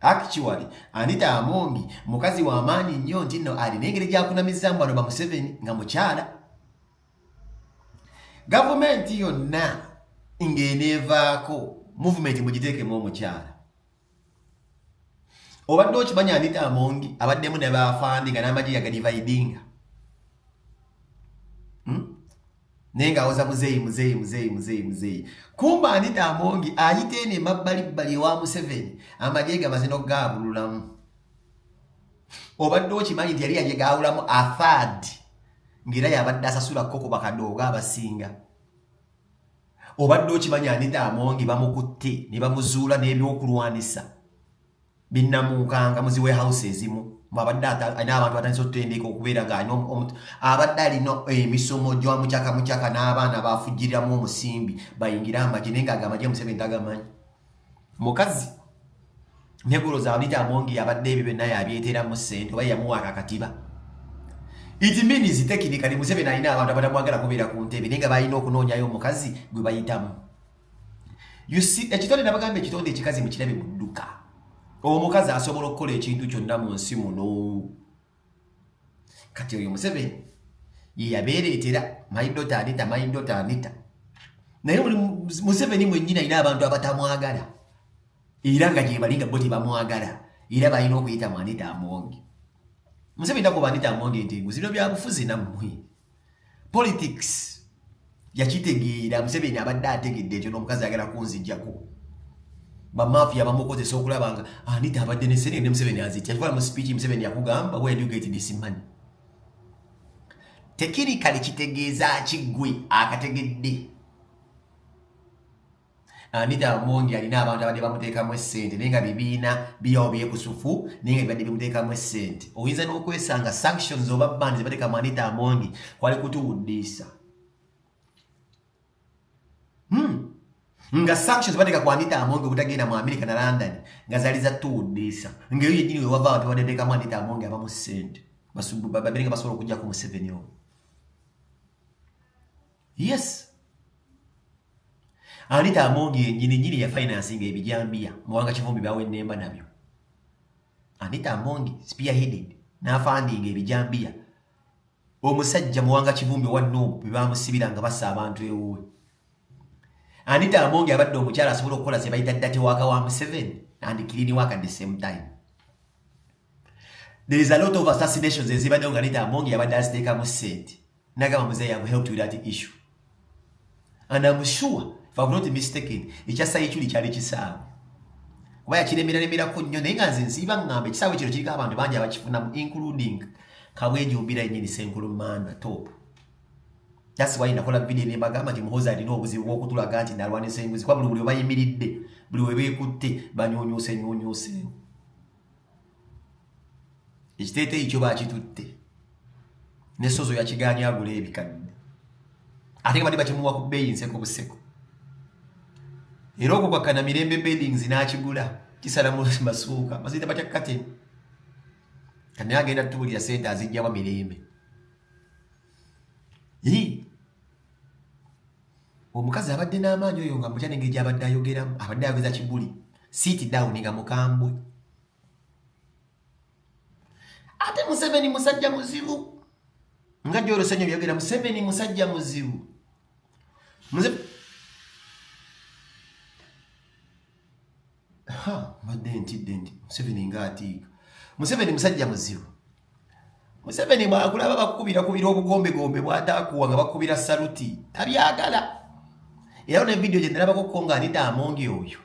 Actually, Anita Amongi mukazi wa maanyi nnyo nti nno alina engeri gyakunamizaamu bano bamuseveni nga mukyala gavumenti yonna ng'eneevaako muvumenti mugiteekemu omukyala obadde okimanya Anita Amongi abaddemu ne baafandi nga n'amagye yagadivaidinga naye ng'awoza muzeeyi muzeeyi muzeeyi muzeeyi muzeeyi kumba anita amongi ayita eno emabbalibbali ewa museveni amagye gamaze n'okugaabululamu obadde okimanyi nti yali yaje gaawulamu athad ng'era yabadde asasula koko bakadooga abasinga obadde okimanyi anita amongi bamukutte ne bamuzuula n'ebyokulwanisa binnamuukanga mu zi warehouse ezimu mwabadde alina abantu batandisa otutendeka okubeera nga alina omuntu abadde alina emisomo gya mucaka mucaka n'abaana bafugiriramu omusimbi bayingire amagye naye nga agamagye museveni tagamanyi mukazi negoloza abita amongi yabadde ebyo byonna yabyeteramu ssente oba yamuwa akakatiba it means tekinikali museveni alina abantu abatamwagala kubeera ku ntebe naye nga balina okunoonyayo omukazi gwe bayitamu you see ekitonde nabagamba ekitonde ekikazi mukirabe mudduka omukazi asobola okukola ekintu kyonna mu nsi muno kati oyo museveni yeyabeereetera maidota anita maidota anita naye oli museveni mwennyini alina abantu abatamwagala era nga gyebali nga bo tebamwagala era balina okuyita mu anita amongi museveni takuba anita amongi nti nguzibino byabufuzi nammwe politics yakitegeera museveni abadde ategedde ekyo n'omukazi agala kunzijjako bamafiya bamukozesa okulaba nga anita ah, abadde ne sene ne museveni azitya kikola mu speech museveni yakugamba where do you get this money tekirikali kitegeeza ki gwe akategedde Anita Amongi alina abantu abadde bamuteekamu essente naye nga bibiina biyawo byekusufu naye nga bibadde bimuteekamu essente oyinza n'okwesanga sanctions oba band zebateeka mu Anita Amongi kwali kutuwuddiisa hmm. nga sanctions bateeka ku Anita Amongi obutagenda mu Amerika na London nga zali za tuwuddiisa nga eyo yennyini wewava abantu abadde bateekamu Anita Amongi abamu ssente babeere nga basobola okujjako Museveni omu yes anita amongi yenyini nyini ya financing ebijambiya muwanga kivumbi bawe nemba nabyo anita amongi spearheaded na funding ebijambiya omusajja muwanga kivumbi wa nubu bibamusibira nga basa abantu ewuwe anita amongi abadde omukyala asobola okukola ze bayita dati waka wa museveni and kilini waka the same time there is a lot of assassinations ezibadde nga anita amongi abadde aziteekamu sente Nagama mzee, I have helped with that issue. And I'm sure, if I've not mistaken, ekyasa ekyuli kyali kisaawe. Kuba yakiremera remerako nnyo naye nga nze nsiiba ngamba ekisaawe kino kiriko abantu bangi abakifunamu including Kabweji Obira yennyini Senkulu Manda top. That's why nakola video ne bagamba nti Muhoozi alina obuzibu bw'okutulaga nti nalwanisa enguzi kuba buli buli obayimiridde buli we beekutte banyuunyuuse nyuunyuuseewo. ekiteeteeyi kyo bakitutte ne sozo yakigaanye agula ebikadde ate nga bali bakimuwa ku bbeeyi nseko buseko era okwo kwakkana mirembe beddings n'akigula kisala mu masuuka baziyita batya kateni kati naye agenda tutubulira sente azijjawa mirembe omukazi abadde n'amaanyi oyo nga mutya nengeri gyabadde ayogeramu abadde ayogeza kibuli sit down nga mukambwe ate museveni musajja muzibu nga gyolosenyo byogera museveni musajja muzibu mbadde ntidde nti museveni nga atiika museveni musajja muzibu museveni bwakulaba bakukubira kubira obugombegombe bwatakuwa nga bakubira saluti tabyagala era ne vidiyo gyenalabako ko nga anita amongi oyo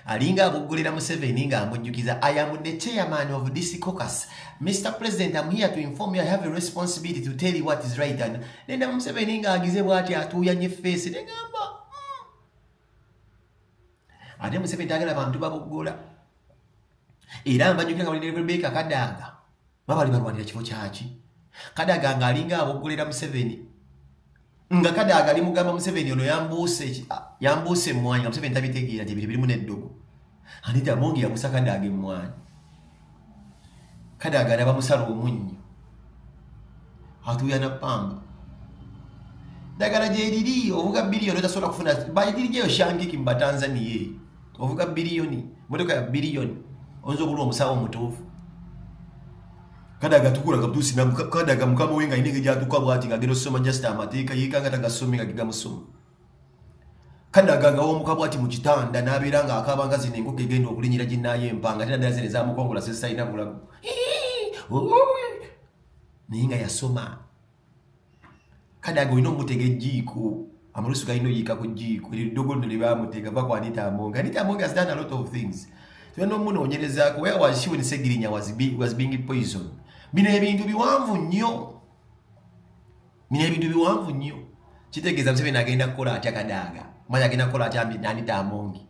alinga abuggulira museveni nga amujjukiza i am the chairman of this cocus mr president am here to inform you i have a responsibility to tell you what is right and nenda museveni nga agize bwati atuuyanye feesi negamba ate museveni tayagala bantu baboggola era mbajukira nga bali ne rebeka kadaga babali balwanira kifo kyaki kadaga nga alinga aboggolera museveni nga kadaga ali mugamba museveni ono yambuuse yambuuse emwanyi nga museveni tabitegeera gye biri birimu n'eddogo anita amongi yakusa kadaaga emmwanyi kadaaga alaba musala omunnyo atuuyana pamba dagala gyeriri ovuga biliyoni otasobola kufuna bayitiri gyeyo shangiki mubatanzania eyo ovuga biliyoni motoka ya biliyoni oyinza obulwa omusawo omutuufu kadaga tukula kabutusi na kadaga mukama wenga inenge jatuka bwati ngagero soma just amateeka yekanga tagasome ngagiga musoma kadaga nga womuka bwati mu kitanda n'abeera nga akaaba nga zino enkoko egenda okulinyira ginnayo empanga ate naddala zino ezamukongola zezitalina bulago naye nga yasoma kadaga olina omutega ejjiiko amalusu galina oyiika ku jjiiko eryo eddogo lino lye bamutega va ku anita amonga anita amonga has done a lot of things tena omunoonyerezaako where was she when segirinya was, be, was being poison bino ebintu biwanvu nnyo nina ebintu biwanvu nnyo kitegeeza museveni agenda kukola atya kadaaga mazi agenda kukola atya nanitamongi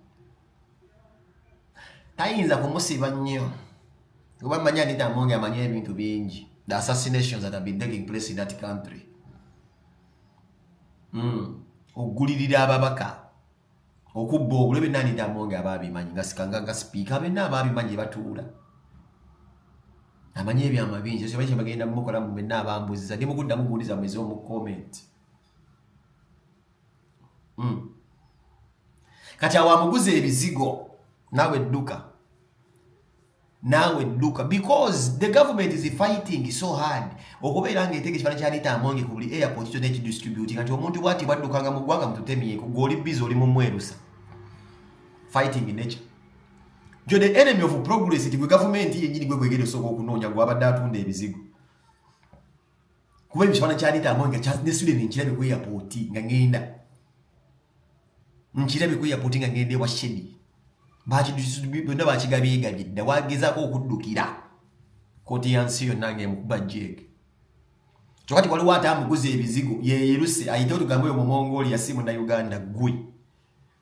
tayinza kumusiba nnyo kuba manyi anitamongi amanyi ebintu bingi the assassinations that have been taking place in that country mm. ogulirira ababaka okubba obulo ebyo nani damonge aba abimanyi nga sikanga nga sipiika abenna aba abimanyi batuula amanyi ebyama bingi ekyo bakye bagenda mukola mu benna abambuziza ndi mukuddamu kuwuliza mwezi omu comment mm. kati awo amuguza ebizigo nawe dduka naawe dduka because the government is fighting so hard okubeera nga eteka ekifaana kyaliita amongi ku buli airport kyona ekidistributi kati omuntu bwati bwaddukanga mu ggwanga mututemyeko gweoli bizi oli mumwerusa fighting nature jo the enemy of progress ti gwe gavumenti yenyini gwe gwegere osooka okunoonya gwabadde atunda ebizigo kuba ebyo kibana kyaleta amanyi nga kyasudde ne nkirabye ku airport nga ngenda nkirabye ku airport nga ngenda ewa shedi byonna bakigabyegabye dda wagezaako okuddukira kooti ya nsi yonna nga emukuba jeeke kyokati waliwo ate amuguza ebizigo yeyeruse ayite otugambe oyo mumongoli yasi munauganda gwe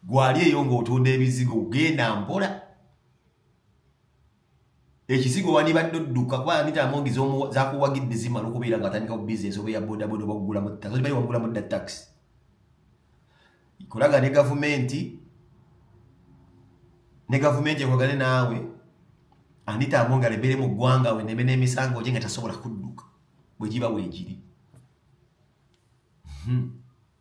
gwali eyo ng'otunda ebizigo genda mpola ekizigo wandibadde odduka kuba anita amongi zakuwagidde zimala okubeera nga atandika ku bizinesi oba eya bodaboda oba kugulamu taxi okimanyi wagulamu dda taxi kolaga ne gavumenti ne gavumenti ekolagane naawe anita amongi alebere mu ggwanga we neme n'emisango gye nga tasobola kudduka bwe giba weegiri hmm.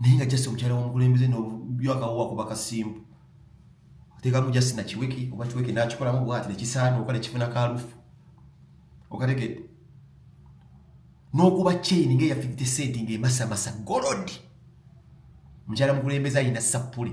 naye nga just omukyala womukulembeze nobyakawowa kuba kasimbu atekamu just nakiweke oba kiweke nakikolamu bwati nekisaana oka nekifuna kalufu okategedde n'okuba chain nga eya 50 cent nga emasamasa golodi mukyala mukulembeze ayina sappule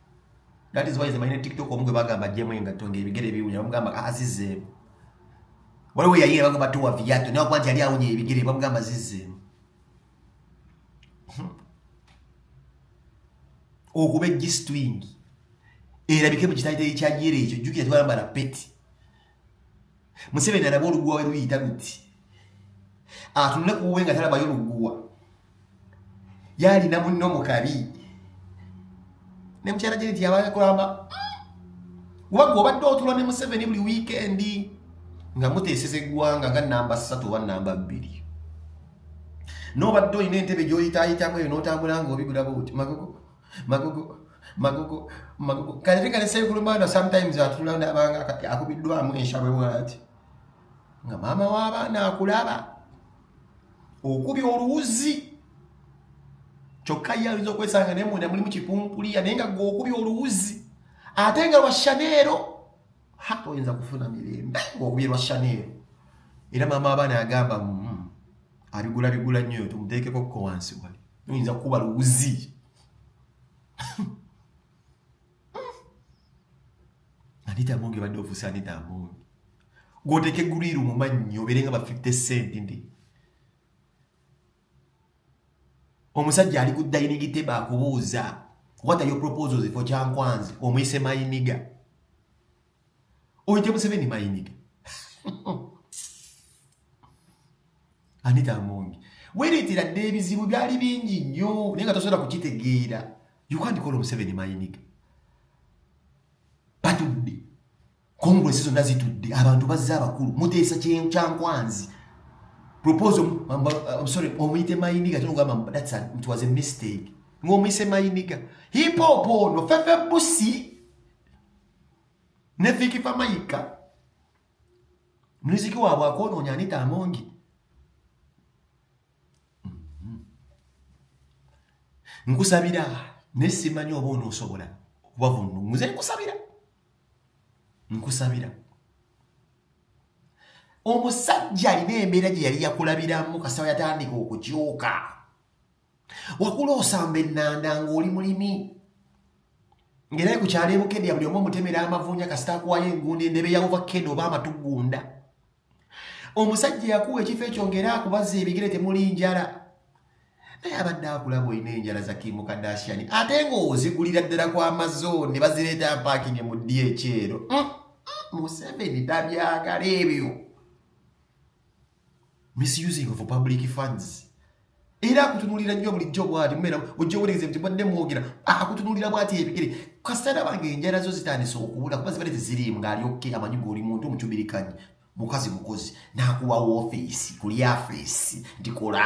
that is why is mine tiktok omugwe bagamba jemu engatto ng'ebigere biwunya bamugamba ah, azizeemu waliwo yayira bagamba tuwa viyato naye okuba nti yali awunya ebigere bamugamba zizeemu hmm. okuba ejjisitwingi erabike mu kitayiteri kya yera ekyo jjukira twalambala peti museveni alaba oluguwa weruyita luti atunule kuwe nga talabayo luguwa yalina munno mukabi ne mukyala jeneti yabakulamba wagwe obadde otula ne museveni buli wiikendi nga muteeseza eggwanga nga namba ssatu oba namba bbiri nobadde olina entebe gyoyitayitamu eyo notambula nga obigulabuti magogo magogo magogo magogo kale kale sekulu mwana sometimes atula ndabanga kati akubiddwamu enshabwe wati nga maama w'abaana akulaba okubya oluwuzi kyokka ye ayinza okwesanga naye munda mulimu kipumpuliya naye nga gwe okubya oluwuzi ate nga lwa shaneero ha oyinza kufuna mirembe ng'okubye lwa shaneero era maama abaana agamba mm, abigula bigula nnyo tumuteekeko ko wansi wali oyinza kukuba luwuzi anita amonge badde ofuuse anita amonge gwoteeka egguluiru mu mannyo obeere nga ba 50 cent ndi omusajja ali ku dayiningi teba akubuuza what are your proposals for kyankwanzi omuyise mayiniga oyo gye museveni mayinike anita amongi wereetera dda ebizibu byali bingi nnyo naye nga tosobola kukitegeera yukandikola omuseveni mayinike batudde kongulesi zonna zitudde abantu bazze abakulu muteesa kyankwanzi propose sorry omuyite mayiniga tinogamba that's a, it was a mistake ng'omuyise mayiniga hip hop ono fefe busi ne Vicky Famayika muziki waabwe akwonoonya Anita Amongi mm-hmm. nkusabira ne simanyi oba onoosobola kubavunnuze nkusabira nkusabira omusajja alina embeera gye yali yakulabiramu kasawa yatandika okukyuka wakula osamba ennanda ng'oli mulimi ng'era ku kyalo ebukedya buli omu omutemera amavuunya kasita akuwayo enguundo endebe ya ovakkedo oba amatugunda omusajja yakuwa ekifo ekyo ng'era akubazza ebigere temuli njala naye abadde akulaba olina enjala za kimu kadashani ate ng'ozigulira ddala ku amazon ne bazireeta mpaakinge mu ddi ekyero mm, mm, museveni tabyagala ebyo misusing of public funds era akutunulira nnyo bulijjo bwati mumera ojja owereeza nti mwadde mwogera akutunulira bwati ebigere kasana bange enjala zo zitandise okubula kuba zibale teziriimu ng'ali okke amanyi goli muntu omucubirikanyi mukazi mukozi n'akuwa woofeesi ku lyafeesi ndikola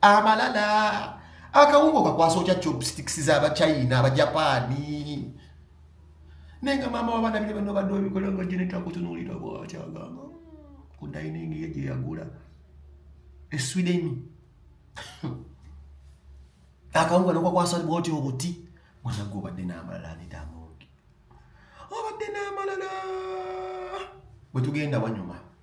amalala akawungo kakwasa otya chopsticks z'abachina abajapaani naye nga maama wabaana bine bano badde obikola nga genetakutunuulira bwakyagamba ku dining ye gye yagula e sweden akawungo nokakwasa bwoti obuti mwana gwe obadde n'amalala anidaamungi obadde n'amalala bwe tugenda wanyuma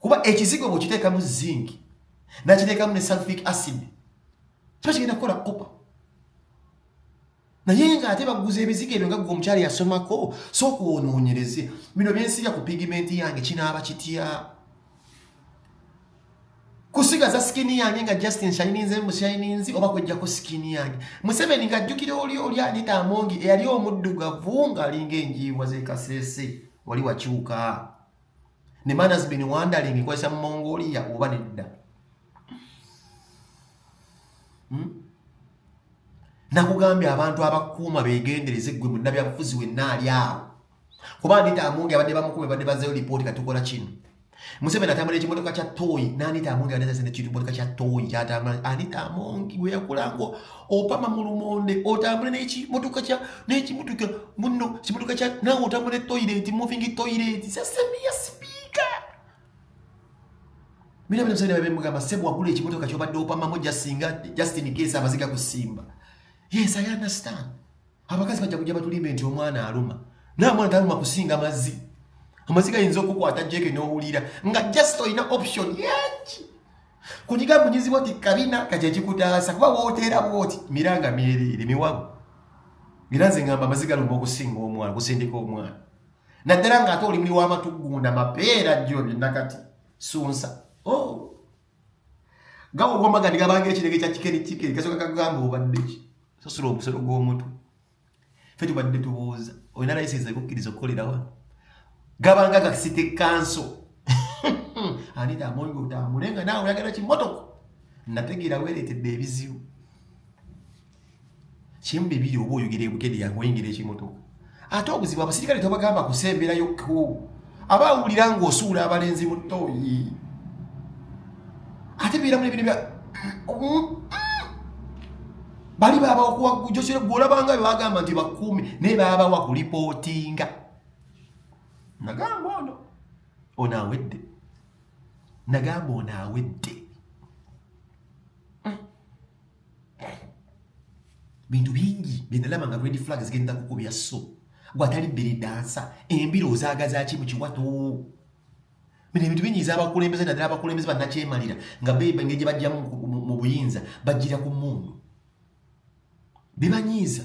kuba ekizigo bwekiteekamu zinc nakiteekamu ne sulfic acid kiba kigenda kukola kopa naye nga ate baguza ebizigo ebyo nga gwe omukyala yasomako sooka onoonyereze bino byensiga ku pigimenti yange kinaaba kitya kusigaza sikini yange nga justin shininze mushininzi oba kwejjako sikini yange museveni ng'ajjukira oli oli anita amongi eyali omuddugavu ng'alinga enjiibwa z'ekasese wali wakyuka ne man has been wondering nkozesa mu mongolia oba nedda hmm? nakugambye abantu abakuuma begendereze gwe munabyabufuzi wenna ali awo kuba anita amungi abadde bamukume badde bazeyo lipooti katukola kino museveni atambula ekimotoka kya toyi nanita amungi abadde zazina ekimotoka kya toyi kyatambula anita amungi gweyakulango opama mu lumonde otambule nekimotoka kya nekimotoka muno kimotoka kya nawe otambule toilet moving toilet sasemiya sipiika mina bino musajja bemugamba sebo wagula ekimotoka kyobadde opamamu jasinga just in case amaziga kusimba yes i understand abakazi bajja kujja batulimbe nti omwana aluma naye omwana taluma kusinga mazzi amazzi gayinza okukwata jeke n'owulira nga just olina option yaki kunyiga munyizibwa ti kabina kati ekikutaasa kuba wooteera bwoti miranga myereere miwabu era nze ngamba amazzi galumba okusinga omwana kusindika omwana naddala nga ate olimuli w'amatugunda mapeera jjo byonna kati sunsa oh. gawogomagani gabanga ekirege kya kikeri kikeri kasoka kagamba obadde ki sasula omusolo gw'omutwe fe tubadde tubuuza olina layisinsi ekukkiriza okukolera wano gabanga gasite kanso anita amonga otambule nga naawe oyagala kimotoka nategeera weereetedde ebizibu kimu bibiri oba oyogera ebukede yakuwa engeri ekimotoka ate obuzibu abasirikale tobagamba kusemberayo ko aba awulira ng'osuula abalenzi mu tooyi ate biiramu nebino bya bali baba okuwagujosere gwolabanga bebagamba nti bakuumi naye baba wakulipootinga nagamba ono ono awedde nagamba ono awedde bintu bingi byenalaba nga red flag zigenda kukubya so gwatali bbiri dansa embiro ozagazaki mu kiwato bino ebintu binyiiza abakulembeze naddala abakulembeze bannakyemalira nga beba engeri gye bajja mu buyinza bajjira ku mundu bibanyiiza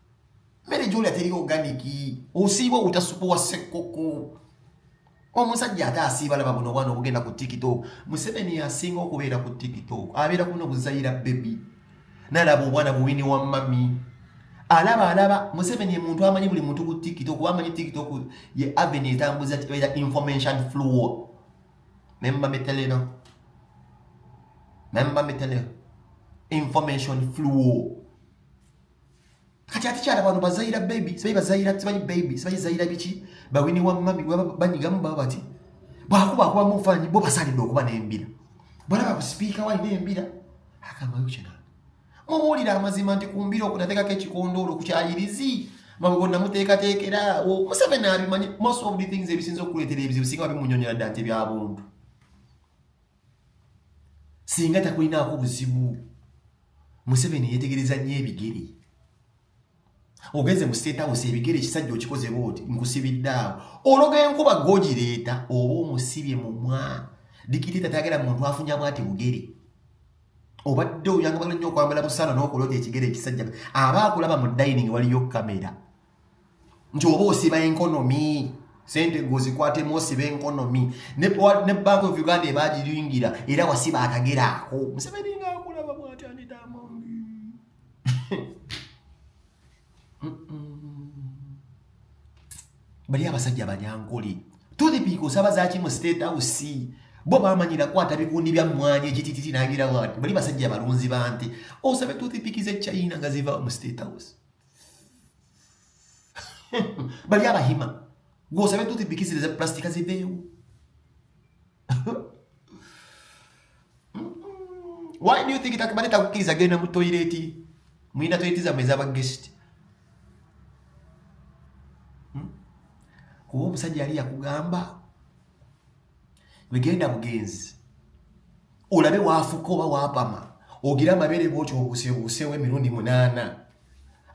mmere gyolya teri oganiki osiiba obutasupu wa ssekkoko omusajja ate asiiba laba buno obwana obugenda ku tiktok museveni asinga okubeera ku tiktok abeera kuno buzayira bebi nalaba obwana buwini wa mami alaba alaba museveni muntu amanyi buli muntu ku tiktok oba amanyi tiktok ye aveni etambuza era information flow memba miteleno memba miteleno information flow kati ate kyala bano bazayira baby sibayi bazayira sibayi baby sibayi zayira biki bawini wa mami banyigamu baba bati bwakuba akuba mu fanyi bo basalidde okuba n'embira balaba ku sipiika wali n'embira akamayo kina mubuulira amazima nti ku mbira okunateekako ekikondoolo ku kyayirizi mabugo namuteekateekera museveni abimanyi most of the things ebisinza okuleetera ebizibu singa babimunyonyola dda nti ebyabuntu singa takulinaako buzibu museveni yetegereza nnyo ebigere ogenze mu state house ebigere ekisajja okikoze booti nkusibiddaawo ologa enkuba gogireeta oba omusibye mu mwa dikiteta tagera muntu afunya bwati bugere obadde oyagala nnyo okwambala busaano n'okulota ekigere ekisajja aba akulaba mu dining waliyo kamera nti oba osiba enkonomi sente gwozikwatemu osiba enkonomi ne bank of uganda ebagiyingira era wasiba akagera ako museveni nga akulaba bwatyandidamambi bali abasajja banyankole tothipiika osaba zaki mu state house bo bamanyira kwata bikundi bya mwanya ekitititi nagira wati bali basajja balunzi bante osabe tothipikiza echina nga ziva mu state house bali abahima gwosabe tuti bikizile za plastika ziveewo why do you think takibadde takukiriza genda mu toyireti mulina toyireti zamwe ezabagesti hmm? kuba omusajja yali yakugamba wegenda bugenzi olabe waafuka oba waapama ogira amabere bwotyo obusebuusewo emirundi munaana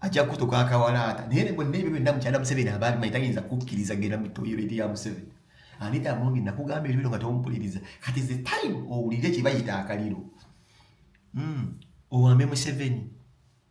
ajja kutuka akawalaata naye ne bonna ebyo byonna mukyala museveni aba abimanyi tayinza kukkiriza genda mu toyireti ya museveni anita mungi nakugamba ebyo bino nga tompuliriza kati the time owulire kye bayita akaliro mm. owambe museveni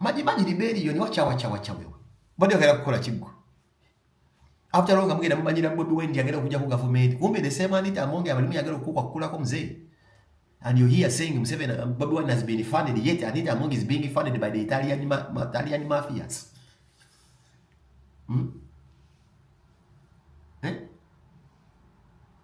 majimaji liberiyo ni wachawa chawa chawa wewe bodi akera kukola kigwa after all ngamugenda mumanyira bobi wine yagera kuja ku government kumbe the same anita amonge abalimu yagera kukwa kukula ko mzee and you hear saying Museveni uh, bobi wine has been funded yet anita amonge is being funded by the italian ma, ma, italian mafias hmm? eh?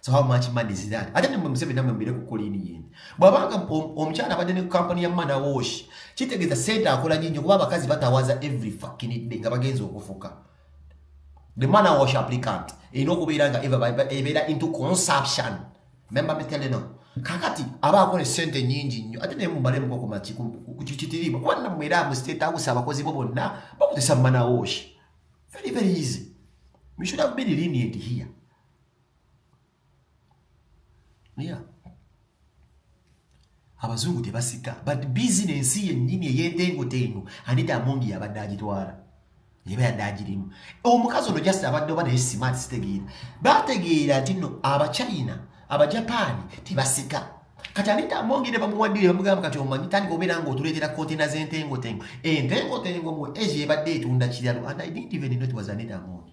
so how much money is that ate nemwe museveni namwe mbire ku kolini yindi bwabanga omukyala abadde ne kampani ya mana wash kitegeeza sente akola nyingi kuba abakazi batawaza every fucking day nga bagenza okufuka the mana wash applicant erina okubeera nga ebeera into consumption member meteleno kakati aba akola esente nyingi nnyo ate naye mumalemuko kumaki kukitiriibwa kuba namwe era mu state house abakozi bo bonna bakozesa mana wash very very easy we should have been lenient here yeah. abazungu tebasika but bizinensi yennyini eyentengotengo anita amongi yabadde agitwala eba yadde agirimu omukazi ono just abadde oba naye simaati sitegeera bategeera nti no abachina abajapaani tebasika kati anita amongi ne bamuwaddire bamugamba kati omanyi tandika obeera nga otuleetera kontena z'entengotengo entengotengo mu asia ebadde etunda kiralu and i didn't even know it was anita amongi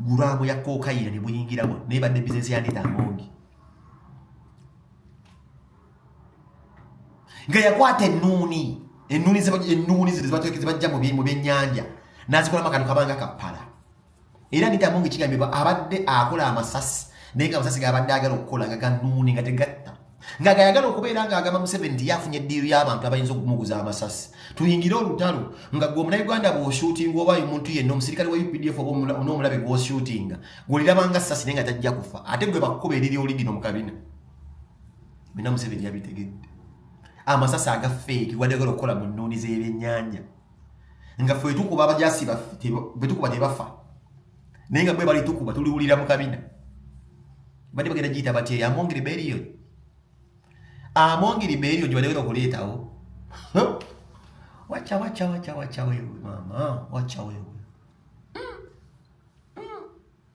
guraamu ya kokayina ne buyingiramu naye badde bizinesi ya Anita Amongi nga yakwata ennuuni ennuuni ennuuni zino zibajja mu byennyanja n'azikolamu akantu kabanga kappala era Anita Among kigambibwa abadde akola amasasi naye nga amasasi gabadde agala okukola nga ganuuni nga tegatta nga gayagala okubeera nga agamba Museveni nti yafunye eddiiru y'abantu abayinza okumuguza amasasi tuyingire olutalo nga gwe omunayuganda bw'oshuutinga oba omuntu yenna omusirikale wa updf oba n'omulabe gw'oshuutinga gw'olirabanga sasi naye nga tajja kufa ate gwe bakkuba eriri oli lino mu kabina bina Museveni yabitegedde amasasi agafeeki gwadagala okukola mu nnuuni z'ebyennyanja nga ffe tukuba abajasi betukuba tebafa naye nga bwe bali tukuba tuliwulira mu kabina bade bagenda giyita batya eyo among rebellion among rebellion gye badagenda okuleetawo wacha wacha wacha wacha wewe mama wacha wewe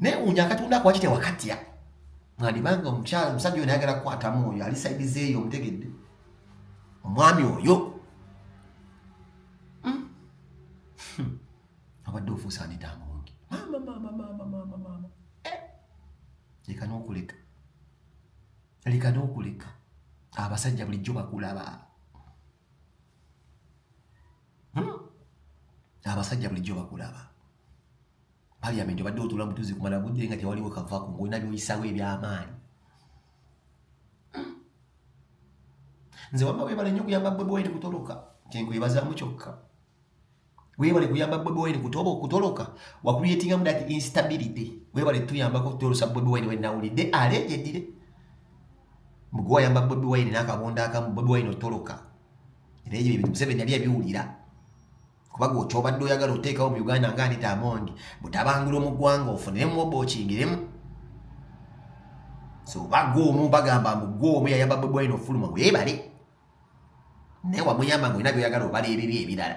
naye unya katonda ako wakitya wakatya mwandibanga omukyala omusajja oyo nayagala kukwatamu oyo ali saidi zeeyo omutegedde omwami oyo hmm. hmm. abadde ofuusa anita amungi mamamamamamamamama eh. leka nokuleka leka nokuleka abasajja bulijjo bakulaba hmm. abasajja bulijjo bakulaba parliament obadde otula butuzi kumala budde nga tewaliwo kavako ngolina byoyisawo ebyamaanyi nze wamma webale nnyo kuyamba bobi wine kutoloka kyenkwebazamu kyokka webale kuyamba bobi wine kutoba okutoloka wakuyetingamu that instability webale tuyambako kutolosa bobi wine wenawulidde alejedire mugwayamba bobi wine nakabonda akamu bobi wine otoloka era ebyo ebintu museveni yali abiwulira kuba gwe kyobadde oyagala oteekawo mu uganda nga anita amongi butabangulwa mu ggwanga ofuniremu oba okingiremu so bagwa omu bagamba mbu gwa omu yayamba bwebwaina ofuluma weebale naye wamuyamba nga olina byoyagala obala ebibi ebirala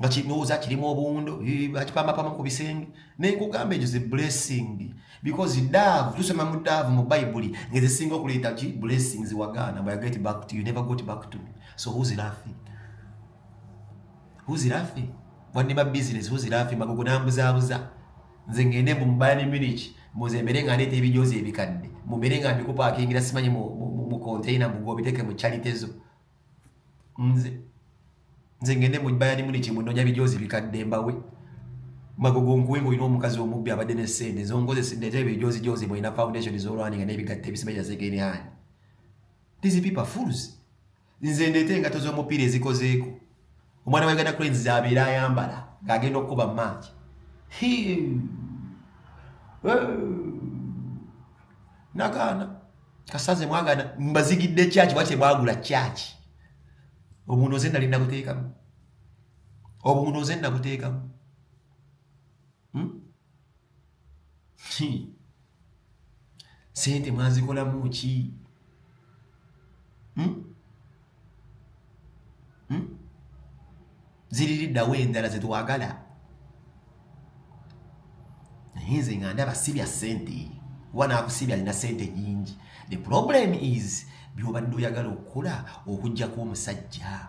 nga kinooza kirimu obuwundo bakipamapama ku bisenge naye nkugamba ekyo ze blessing because dove tusoma mu dove mu bayibuli ngezisinga okuleeta ki blessing ziwagaana but get back to you never got back to me so who's laughing who's laughing wanne ba business who's laughing magogo nambuzaabuza nze ngende mbu mubaya ne munich muze mbere nga ndeeta ebijozi ebikadde mubere nga mbikupakingira simanyi mu container mugobiteke mu charity zo nze nze ngende mu bayani muni kimu nonya bijozi bikadde mbawe magogo nkuwe ngolina omukazi omubbi abadde ne sente zonkozesa ndete bijozi jozi mulina foundation zolwani nga nebigatte ebisimeja zegeni ani these people fools nze ndete engato z'omupiira ezikozeeko omwana wa Uganda Cranes abeera ayambala ng'agenda okukuba maaki nagaana kasaze mwagana mbazigidde kyaki bwa kyemwagula kyaki obuno nze nali nabuteekamu obuno nze nabuteekamu hmm? sente mwazikolamu ki hmm? hmm? ziririddawo endala zetwagala naye nze nga ndaba sibya sente kuba nakusibya alina sente nyingi the problem is byobadde oyagala okukola okujjako omusajja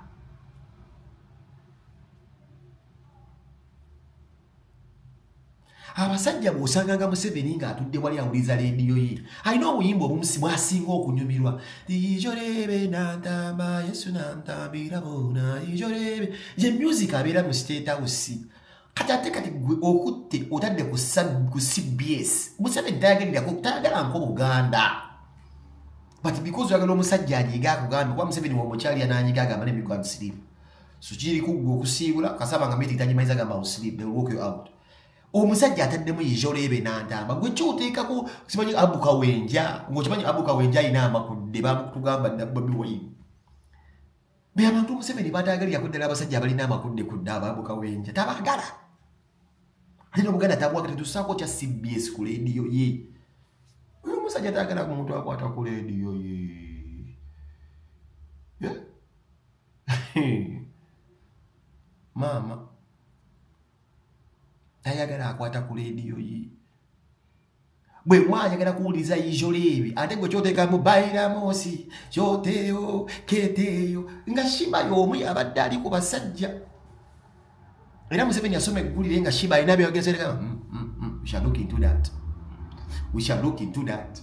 abasajja bwosanganga museveni ng'atudde wali awuliza leediyo ye alina obuyimba obumusi bwasinga okunyumirwa ijorebe nantamba yesu nantambira bona ijorebe ye music abeera mu state house kati ate kati gwe okutte otadde ku cbs museveni tayagalirakwo tayagala nko buganda but because oyagala omusajja anyiga akugambye kuba museveni wamukyalira nanyiga agamba nemigo amusirimu so kiri kuggwa okusiibula kasaba nga miti tagimanyiza gamba usleep they walk you out omusajja ataddemu yijolo ebe nantamba gwe kyoteekako simanyi abuka wenja ngaokimanyi abuka wenja alina amakudde bamutugamba dda bobi wine be abantu museveni bataagalirako ddala abasajja abalina amakudde ku dda ababuka wenja tabagala ate nobuganda tabwaga tetusaako kya cbs ku lediyo ye oyo omusajja taagala ku muntu akwata ku lediyo ye yeah? maama tayagala akwata ku leediyo ye bwe mwayagala kuwuliriza ijoleebi ate gwe kyoteekamu bairamosi kyoteeyo keteeyo nga shiba y'omu yabadde ali ku basajja era museveni yasoma eggulire nga shiba alina byeyogezereka mm, mm, mm, we shall look into that we shall look into that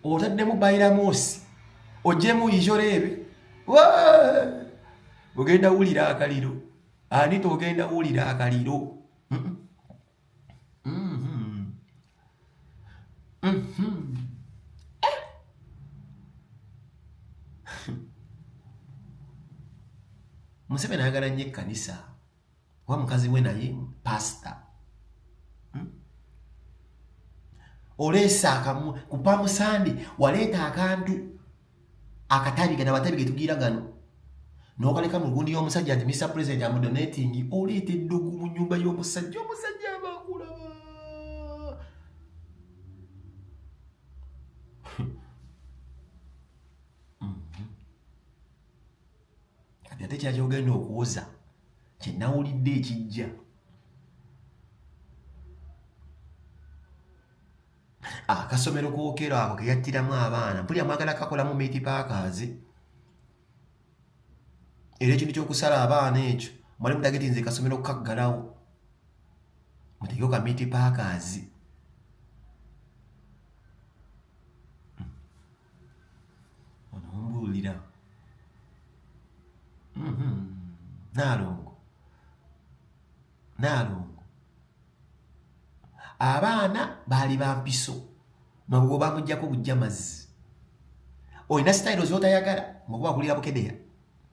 otaddemu bairamoosi ojjemu ijoreebe ogenda wulira akaliro ani togenda wulira akaliro museveni ayagala nnyo ekkanisa wa mukazi we naye pastor hmm? oleesa akamu ku pamusande waleeta akantu akatabiga na batabiga tugira gano nokaleka mu gundi y'omusajja nti mr president amudonatingi oleeta eddugu mu nyumba y'omusajja omusajja kati ate kyaki ogenda okuwoza kyenawulidde ekijja akasomero ah, kokero ako keyattiramu abaana mpulira mwagala kakolamu miti pakaazi era ekintu kyokusala abaana ekyo mwali mutageti nze kasomero kukaggalawo mutegeko ka miti pakaazi onombuulira mm-hmm. naalongo naalongo abaana baali bampiso mabugo bamugjako bujja mazzi olina sitayiro zotayagala mukuba akulira bukedera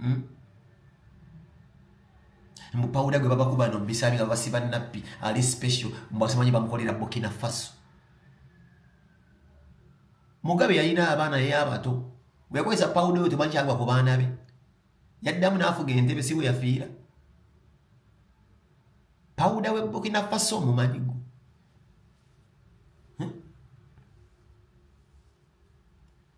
hmm? mupawuda gwe babakuba no bisabi nga basiba nappi ali special mbwasamanyi bamukolera bukina faso mugabe yalina abaana yeye abato weyakozesa pawuda oyo temanyi kyagwa ku baana be yaddamu naafuga entebe si weyafiira pawuda we bukina faso omumanyi gwe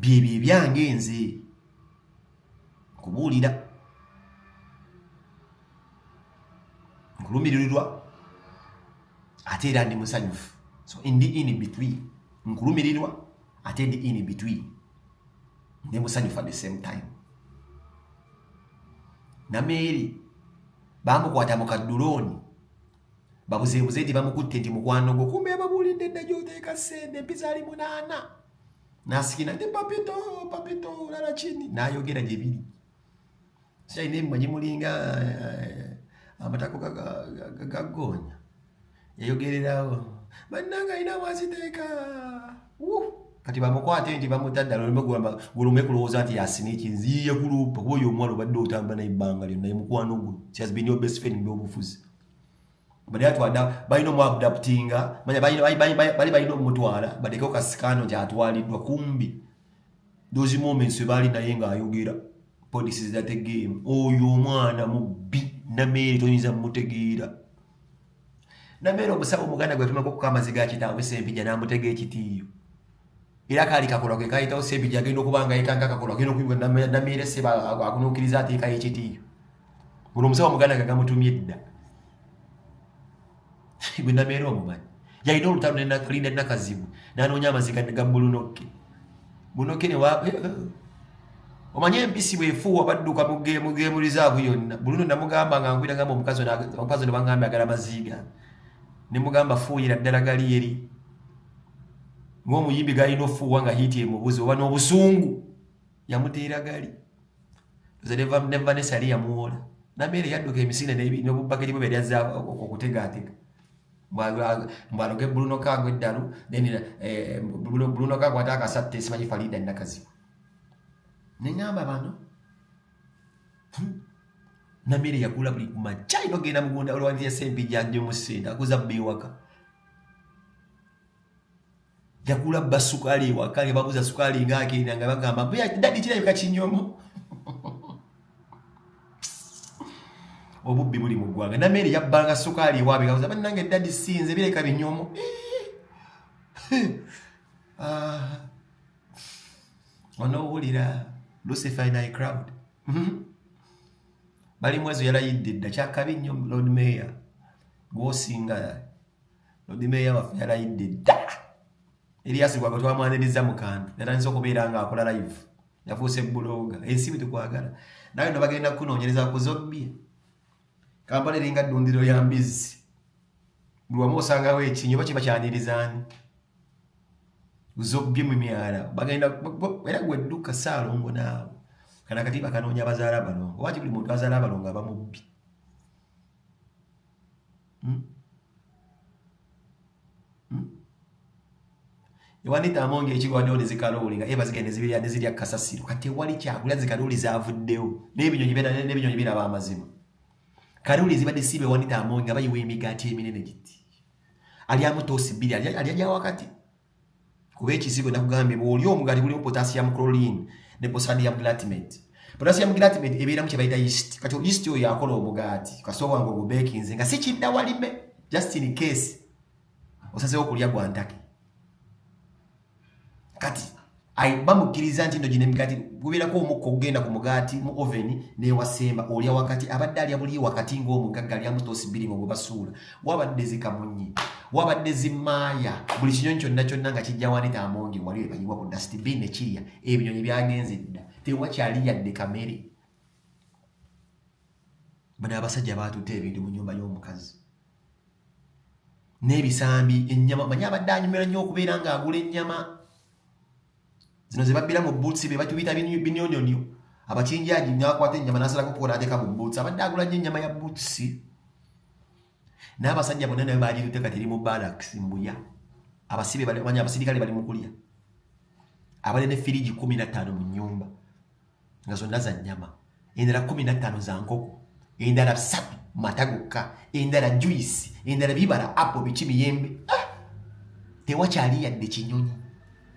byebyo ebyange nze nkubuulira nkulumiririrwa ate era ndi musanyufu so ndi in between nkulumirirwa ate ndi in between ndi musanyufu at the same time nameeri bamukwata mu kaddulooni babuzeebuze nti bamukutte nti mukwano gwo kumbe yababuulidde dda gyoteeka ssente mpizaali munaana nasikina ndi papito papito lala chini nayogera gye biri sikyalina ebimanyi mulinga eh, amatako gagonya yayogererawo bannanga alina mwaziteeka kati bamukwate nti bamutadda lulumegulume kulowooza nti yasina ekinziye kulumpa kuba oyo omwana obadde otamba naye ebbanga lyonna ye mukwano gwo she has been your best friend mu byobufuzi bali atwada balina omuabdaptinga manya bali balina omutwala badekeo kasikaano gyatwaliddwa kumbi those moments webaali naye ng'ayogera police is that a game oyo omwana mubbi nameere toyinza mutegeera nameere omusawo omuganda gwetumako okuka amaziga kitaawe sempija namutega ekitiiyo era kaali kakolwa ke kayitawo sebija agenda okuba nga yeka nga kakolwa agenda okuyibwa namiire seba akunuukiriza ateekayo ekitiiyo guno omusawo muganda nga gamutumye edda gwe namiire omumanyi yalina olutalo linda nakazibu nanoonya amaziga ga bulunokke bunokke ne eh, eh. omanyi empisi bwefuuwa badduka mugemu rizaavu yonna buluno namugamba nga nkwira ngamba omukazi omukazi ne bangamba agala amaziiga ne mugamba fuuyira ddala gali eri ng'omuyimbi galina ofuuwa nga hiiti emubuzi oba n'obusungu yamuteera gali nevanessa yali yamuwola nameere yadduka emisinde nobubbakeri bwe byalyaza okutegaatega mbwaloge bruno kago eddalu then eh, bruno kago ate akasatte simanyi falida nakazi neŋamba bano hmm, nameere yakula buli kumakya inogenda mugunda olwanziyasempijanja omusinde akuza bba ewaka yakula bba sukaali ewaka nga babuza sukaali nga agenda nga bagamba mbuya dadi kirabika kinyomo obubbi buli mu ggwanga nameere yabbanga sukaali ewaabe nga buza bannange dadi sinze bireka binyomo ah. onowulira lucifer ni crowd mhm. bali mwezo yalayidde dda kyakabi nnyo lord mayor gwosinga Lodi Meeya waffe yalayidde dda Erias Lukwago twamwaniriza mu kantu yatandise okubeera ng'akola live yafuuse bbulooga ensi bwe tukwagala nawe no bagenda kukunoonyereza ku zobbi kampala eringa ddundiro ya mbizzi buli wamu osangawo ekinyi oba kiba kyanirizaani zobbi mu myala bagenda era gwedduka saalongo naawe kana kati bakanoonya bazaala abalongo waki buli muntu azaala abalongo aba mubbi hmm? hmm? ewanita amonga ekigwandewo nezikalooli nga eba zigenda zibirya nezirya kasasiro kati ewali kyakulya zikalooli zavuddewo nebinyonyi nebinyonyi biraba amazima kalooli zibadde siiba ewanita amonga bayiwa emigaati eminene giti alyamu toosi bbiri alya gyawakati kuba ekizigo nakugambye bwoli omugaati gulimu potassium chlorine ne posadium glatimate potassium glatimate ebeeramu kyebayita yeast kati yeast oyo yakola omugaati kasita obwange ogubekinze nga sikidda walime just in case osazewo okulya gwantake kati ayi bamukkiriza nti ndo gino emigaati gubeerako omukka okugenda ku mugaati mu oveni newasemba olya wakati abadde alya buliyo wakati ng'omugagga alyamu toosi bbiri mu bwebasuula wabadde zikamunyi wabadde zimaaya buli kinyonyi kyonna kyonna nga kijja wanita amongi wali webayiwa ku dustbin ekirya ebinyonyi byagenze dda tewakyali yadde kamere bano abasajja baatutte ebintu mu nyumba y'omukazi n'ebisambi ennyama manyi abadde anyumira nnyo okubeera ng'agula ennyama zino ze babbira mu buutsi be batubita binyonyonyo abakinjaji nakwata ennyama nasalako kukola ateeka mu buutsi abadde agula nnyo ennyama ya buutsi n'abasajja bonna nayo baagirute kati eri mu baraks mbuya abasibe abasirikale bali mu kulya abali ne firigi kumi na ttaano mu nnyumba nga zonna za nnyama endala kumi nattaano za nkoko endala bisatu mata gokka endala juyisi endala bibala apo biki miyembe ah! tewakyali yadde kinyonyi